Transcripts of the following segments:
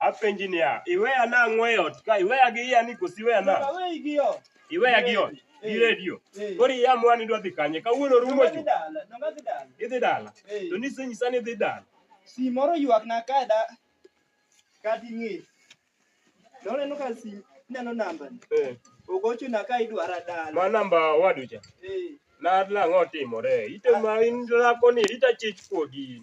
Apenji niya, iweya nang'o e ot ka? Iweya gi iya ni koso iweya na? Aweyi gi ot. Iweya gi ot. Eh. Gi redio. Eh. Koro iya mwa ni dwa dhi kanye? Kawuono rumo Nonga dhi ju. dala. Nonga dhi dala. Idhi dala. Eh. To nisenyisa ni idhi dala. Si moro ywak na ka da kati ng'e. Nono neno ka si neno namba ni. Eh. Ogocho na ka idwara dala. Ma namba waducha. Eh. Na lang'o timore. Ite ma in lako ni ita chich kuogi.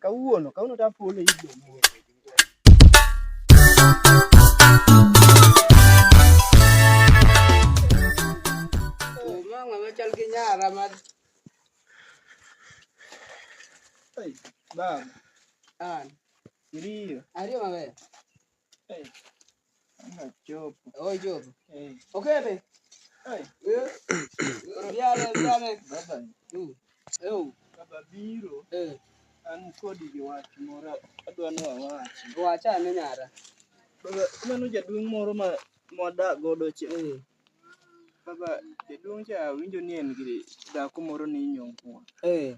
Kawuono, kawuono to afuolo e ibro moro. Baba. An. Iriyo. Ariyo maber. Hey. Job. Oh, Job. Hey. Okay, babe. Hey. Yeah. Yale, yale. Baba. Mm. Eu. Baba biro. Eh. An kodi gi wach moro adwa ni wawachi. Wacha ane nyara. Baba, mano jaduong' moro ma mwadak godo cha. Eh. Baba, jaduong' cha awinjo ni en gi dhako moro ni inyong'o. Eh.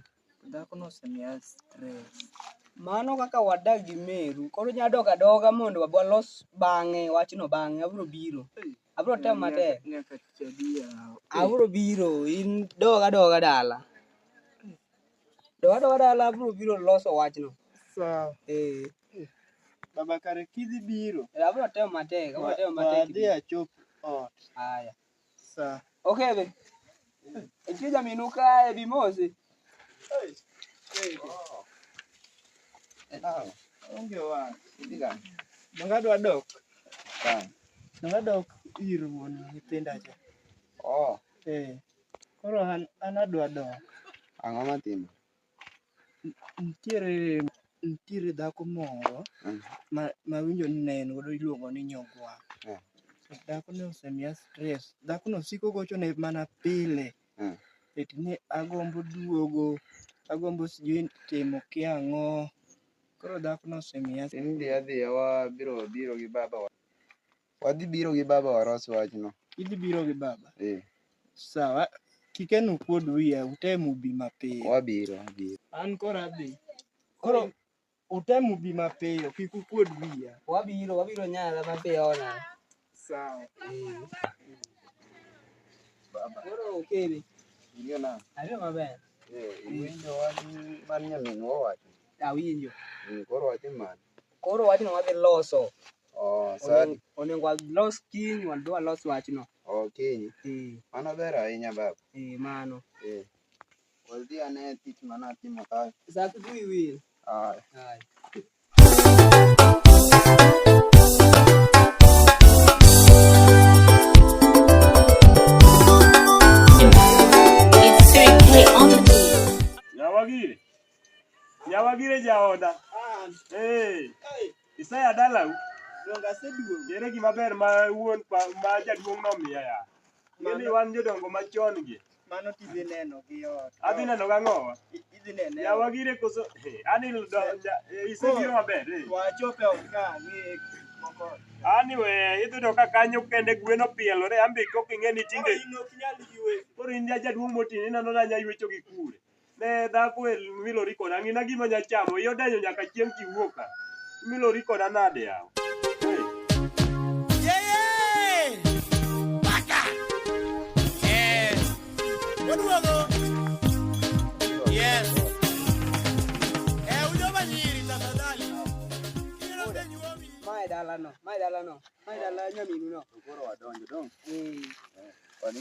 Dhakono osemiya stress. Mano kaka wadak gi meru. Koro inya dok adoga mondo walos bang'e wachno bang'e. Abro biro. Abro temo matek. Nyaka tich adiya. Abro biro. In dog adoga dala. Dog adoga dala abro biro loso wachno. Sawa. Eh. Baba kare kidhi biro. Eh, abro temo matek. Abro temo matek. Adhi achop ot. Haya. Sa. Okebe. Etie jaminu kae bi mose. Aw, onge wa. Diga. Donga dwa dok. Sa. Donga dok ir wuon nyithinda cha. Oh, Eh. Koro an an adwa dok. ang'o matimo? Nitiere nitiere dhako moro Mm. ma mawinjo ni ne en godo iluongo ni nyogwa. Mm. Dhako ne osemiya stress. Dhako no siko gocho ne mana pile. Mm. Eti ni agombo duogo, agombo sijui timo kia ang'o. Koro dhako no osemiya Tin dhi adhiya wabiro biro gi baba wa. Wadhi biro gi baba waros wachno. Idhi biro gi baba? Eh. Sawa. Kikenu kuod wiya, utem ubi mapiyo. Wabiro, wabiro. An koro adhi. Koro utem ubi mapiyo, kik ukuod wiya. Wabiro, wabiro nyala mapiyo ona. Sawa. Eh. Baba. Koro okere. Ing'e na. Ariyo maber. Eh, iwinjo wach man nyaminwa owacho? Awinjo. Eh, koro wacho mane? Koro wachno wadhi loso. Oh, Onen- sadi. Onego walos kiny wadhi walos wachno. Oh, kiny. Eh, Mano ber ahinya baba. eh, mano. Eh. Wadhi ane tich mane atimo kae. Sa kidhi wil. Ah, Hai. It's 3K on the beat. Yawagi, Yawa bire jaoda. Ah, Eh, hey, Isaya dalau. donga seduong'. Ere gima ber ma wuon pa, ma jaduong' nomiya ya. Ngeni wan jodongo machon gi. Mano tidhi neno gi ot. Adhi neno gang'owa. I- Idhi nene. Yawa gire koso. Hey, ani do, ja, eh, isebiro maber. Eh. Wachope ot ka ang'e moko. Ani we idhi to ka kanyo kende gwen opielore ambi kok ing'e ni tinde Koro in ok nyal ywe. koro in ja jaduong' motini ineno na nya ywecho gi kure. Ne dhako e milori koda ng'ina gima nya chamo iyo denyo nyaka chieng' kiwuok ka. Milori koda nade yawa. dalano mae dalano mae dala nyaminu no koro wadonjo dong eh. eh kwani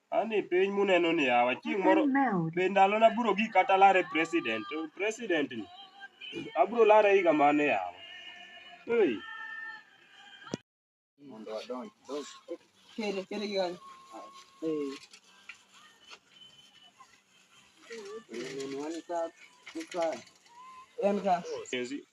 Ani piny muneno ni yawa chieng' moro be ndalo na biro gik kata lare president to president ni abiro lare higa mane yawa hey. mondo adonj donj kere kere gi kanyo eh Nini wani ka ka en ka Sisi,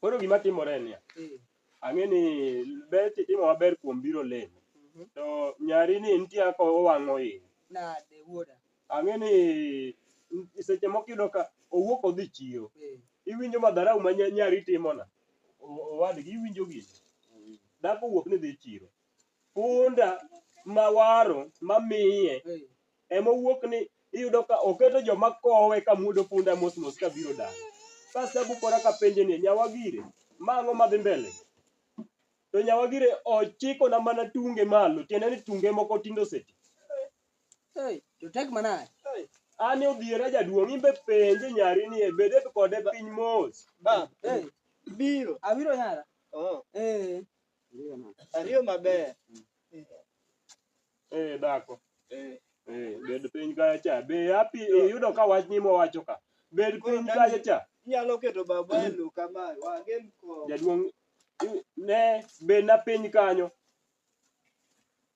Koro gima timore en niya, Eh, ang'e ni bet itimo maber kuom biro lemo. mhm. To nyari ni nitie kaka owang'o iye. Nade wuoda? Ang'e ni n- seche moko iyudo ka owuok odhi chiro. Eh, Iwinjo madharau ma nya- nyari timona. O- Owadgi iwinjo gini. Dhako owuok ni dhi chiro. punda ma waro ma miye ema owuok ni iyudo ka oketo joma kowe ka muodo punda mos mos ka biro dala sasa bukora ka penje ni nyawagire mang'o madhi mbele to nyawagire ochiko na mana tunge malo tiende ni tunge moko tindo seti Hey, to tek manade. ani odhiera jaduong' imbe penje nyari ni e bede kode piny mos Ba, Hey, biro. abiro yara. Oh. Eh, Ariyo maber. Eh, dhako. Eh. Eh, bed piny kacha cha. Be happy iyudo ka wach ni mowacho ka. Bed piny kacha cha. Inyalo keto baba e lo kama. Wagem ko. Jaduong' ne bed na piny kanyo.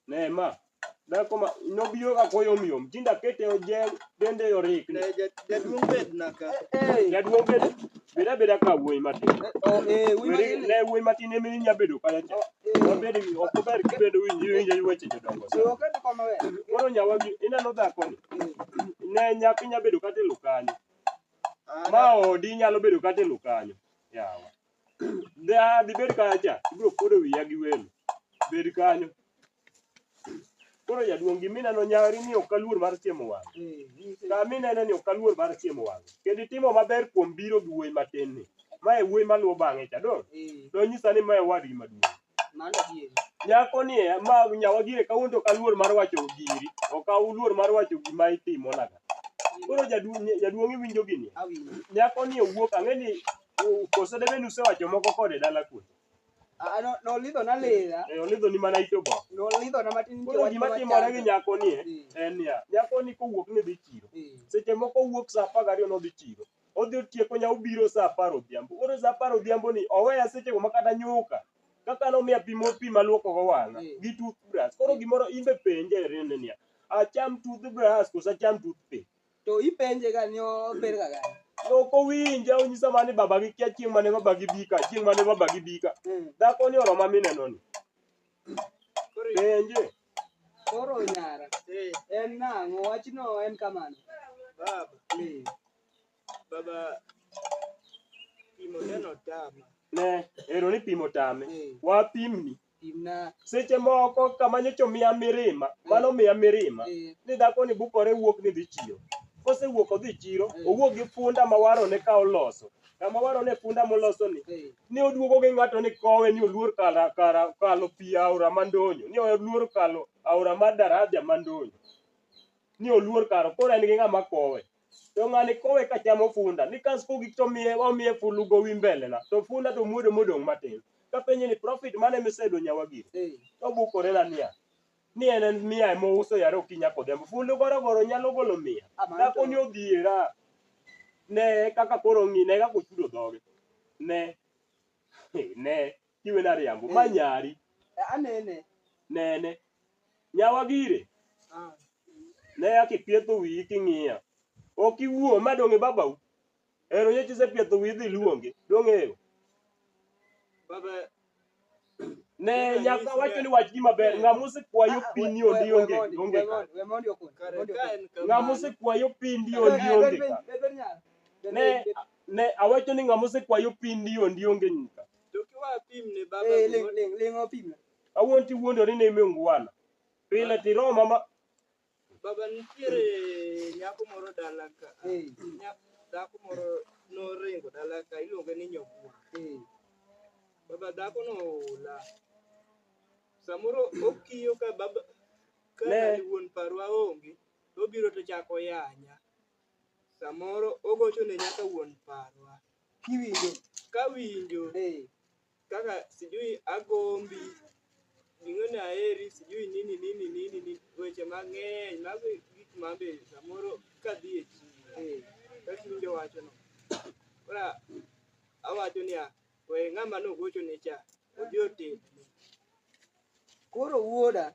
Ne ma. Dhako ma nobiro ka koyom yom. Tinda kete ojeng dende orik. Ne jaduong' bed na ka. Jaduong' bed beda beda ka wuoyi matin. Oh, eh, wuoyi matin. Ne wuoyi matin emi nya bedo kala cha. Wabed gi ok ber kibedo winji winji weche jodongo. Chiwo kete kama we. Koro nyawa gi ineno dhako ni. Ne nyathi nya bedo kata e lokanyo. Ma odi nyalo bedo kata e lokanyo. Yawa. Da, dhi bed kacha. Ibiro kodo wiya gi welo. Bed kanyo. Koro jaduong' gimineno nyari ni ok aluor mar chiemo wang'. Kamineno ni ok aluor mar chiemo wang'. Kendo itimo maber kuom biro gi wuoyi matin ni. Ma e wuoyi maluwo bang'e cha, dong'? Nonyisa ni ma e wadgi maduong'. Nyako ni e, ma nyawa gire kawuono to kaluor mar wacho giri. Ok aluor mar wacho gima itimo naga. Koro jaduong' jaduong' iwinjo gini. Nyako ni owuok ang'e ni koso debe nusewacho moko kode dala kuno. Nolidho na lila. Eh, olidho ni mana ito bo. Nolidho na matin. Koro gima timore gi nyako ni e, en niya, nyako ni kowuok ni dhi chiro. Seche moko owuok sa apar gariyo nodhi chiro. odhi otieko nya obiro saa apar odhiambo koro saa apar odhiambo ni oweya seche go makata nyuka kaka nomiya pi mo pi maluoko go wang'a Mm. gi toothbrush koro Mm. gimoro imbe penje rende niya acham toothbrush koso acham toothpick to ipenje ga ni ober ga gani ok owinje onyisa mani babagi kia chieng' mane babagi bika chieng' mane babagi bika Mm. dhako ni oroma minenoni Penje. Koro nyara. Eh. En nang'o wachno en kamano. Baba. Eh. Baba pimo neno tama. Ne, ero ni pimo tame. Eh. Wapimni. Pimna. Seche moko kama nyocha omiya mirima, eh. mano omiya mirima. Eh. Ni dhako ni bukore wuok ni dhi chiro. Kosewuok odhi chiro, eh. owuok gi funda ma warone ka oloso. kama waro ne punda moloso ni ni oduogo gi ng'ato ni kowe ni oluor kala kara kalo pi aora mandonyo ni oluor kalo aora mar daraja mandonyo ni oluor karo koro en gi ng'ama kowe to ng'ani kowe ka chamo funda ni kas kogik to miye omiye fulu gowi mbele na to funda to muodo modong' matin kapenje ni profit mane misedo nyawa gini to bukore na niya ni en en mia ema ouso yare okinya kodhiambo fundo gorogoro nyalo golo mia Ah, mano dhako to- ni odhiera ne kaka koro ng'i ne kaka ochudo dhoge ne ne kiwe na riambo ma Eh. nyari Eh, anene nene nyawa gire Ah. ne akipietho wiyi king'iya ok iwuo ma dong' e babau Ero nyocha isepiedho wiyi idhi iluonge. Dong'eyo. Baba, Ne nyaka wacho ni wach ni maber. Ng'a mosekwayo pi ni ondi onge. Onge ka. kare ka en Ng'a kamano, mosekwayo pi ndi ondi onge ka. Ne, ne awacho ni ng'a mosekwayo pi ndi ondi onge nyika. to kiwa pim ne baba gimoro- Kawuono tiwuondori ni ime ungwana. Pile tiroma ma Baba nitiere nyako moro dala ka. Dhako moro noringo dala ka iluonge ni Nyobua. Baba dhako no ola. Samoro okiyo ka baba ka wuon parwa onge obiro to chako yanya. Samoro ogocho ne nyaka wuon parwa. Kiwinjo. Kawinjo. kaka sijui agombi, ging'eni aheri, sijui nini nini nini nini, weche mang'eny mago e gik ma be samoro kadhi e chiro kaka iwinjo wachono. Koro awacho niya, we ng'ama nogochoni cha odhi otedne. Koro wuoda,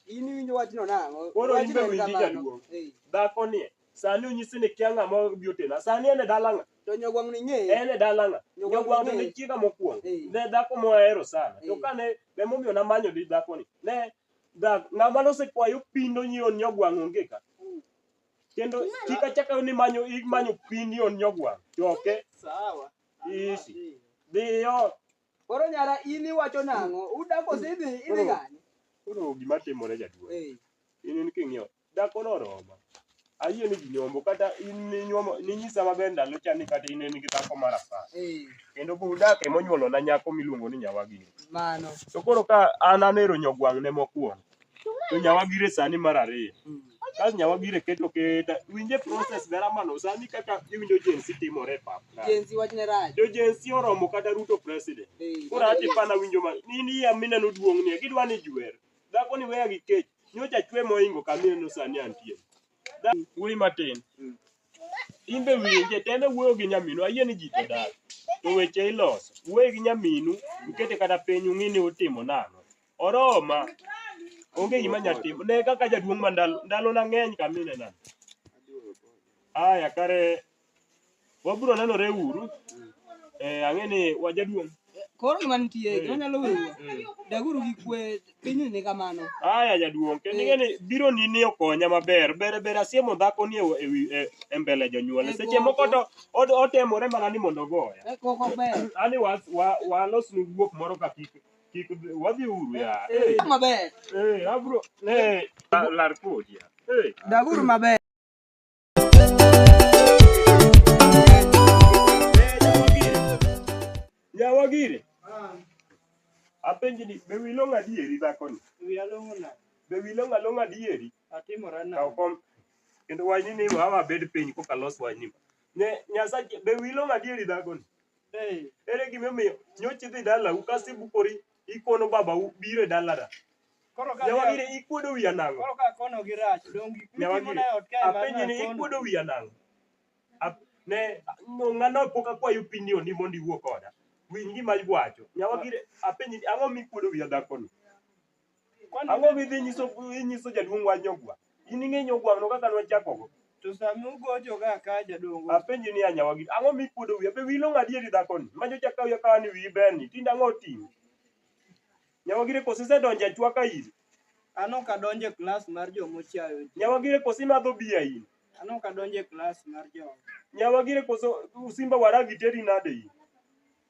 in iwinjo wachno nang'o? Koro in be winji jaduong'. Dhako ni sani onyisi ni kia ng'ama obi otena. Sani en e dala ng'a? To nyogwang' ni ng'eye. En e dala ng'a? Nyogwang' to ne chiega mokwongo. Ne dhako mohero sana. To kane emomiyo namanyo ni dhako ni. Ne ng'ama nosekwayo pindo nyion nyogwang' onge ka. Kendo kik achak ni manyo imanyo pindi on nyogwang'. Choke. Sawa. Ishi. Dhiyo. Koro nyara in iwacho nang'o? Uda kose idhi idhi Koro- gani? Koro gima timore jaduong'. Eh. In in king'iyo. Dhako no roma. Ayie ni ginyombo kata in ninyuomo ninyisa maber ndalo cha ni kata in in gi dhako mar apar. Eh. Kendo budak ema onyuolo na nyako miluongo ni nyawagini. Mano. To koro ka an anero nyogwang' ne mokwongo. to nyawagire sani mar ariyo kas nyawagire keto keta winje process dara mano sani kaka iwinjo jensi timore e pap ka Jenzi wachne raj. jo jensi oromo kata ruto president Hey, koro ati pana winjo ma ni ni ya mineno duong' ni gidwa ni jwer dhako ni weya gi kech nyocha chwe moingo ka mineno sani antie Da- wuoyi matin in be winje teme wuoyo gi nyaminu ayie ni ji to dak to weche iloso wuoyi gi nyaminu ukete kata piny ung'i ni utimo nang'o Oroma. Onge gima nyalo timo. Ne kaka jaduong' ma ndalo ndalo na ng'eny kamine na. Aya kare wabiro nenore uru. Eh ang'e ni wa jaduong'. Koro gima nitie, gima nyalo weyo. Daguru gi kwe piny ni kamano. Aya jaduong', kendo ing'e ni biro ni ni okonya maber. Ber ber asiemo dhako ni e wi e- e mbele jonyuolne. Seche moko to od- otemore mana ni mondo ogoya. Eh, Koko ber. Ani wa wa walos ni guok moro ka kik Kik dhi- wadhi uru ya. Eh, Maber. eh, abro. Eh, la- lar kodi ya. Eh. Daguru maber. Ya wagire. Apenji ni be wilo ng'adieri dhako ni? Wiya long'o na. Be wilo ng'along' adieri? Atimora na. Kaw kom. Kendo wachni ni wawa bed piny koka los wachni. Ne Nyasaye be wilo ng'adieri dhako ni? Hey, ere gima omiyo nyocha idhi dalau kasto ibukori ikono babau biro e dalana Koro ka nyawagire ikuodo wiya nang'o koro ka kono gi rach dongi mitimo nyawagire na ot kae mar apenji ni nakono. ikuodo wiya nang'o Ap- ne no, ng'ano pok akwayo opinion ni mondo iwuo koda winj gima iwacho nyawagire apenji ni ang'o mikuodo wiya dhakono Ang'o midhi nyiso inyiso jaduong' wach nyogwa? In ing'e nyogwano kaka nwachakogo? To sami ugocho ga ka jadongo. Apenji ni anyawa gi ang'o mikuodo wiya be wilo ng'adieri dhakoni ma nyocha kawi akawa ni wiyi ber ni tinde ang'o oting'o nyawa gire kosi isedonjo e chwaka in An ok adonjo e klas mar jo mochayo ji. nyawa gire kosi imadho biya in An ok adonjo e klas mar jo. nyawa gire koso usimba waragi teri nade in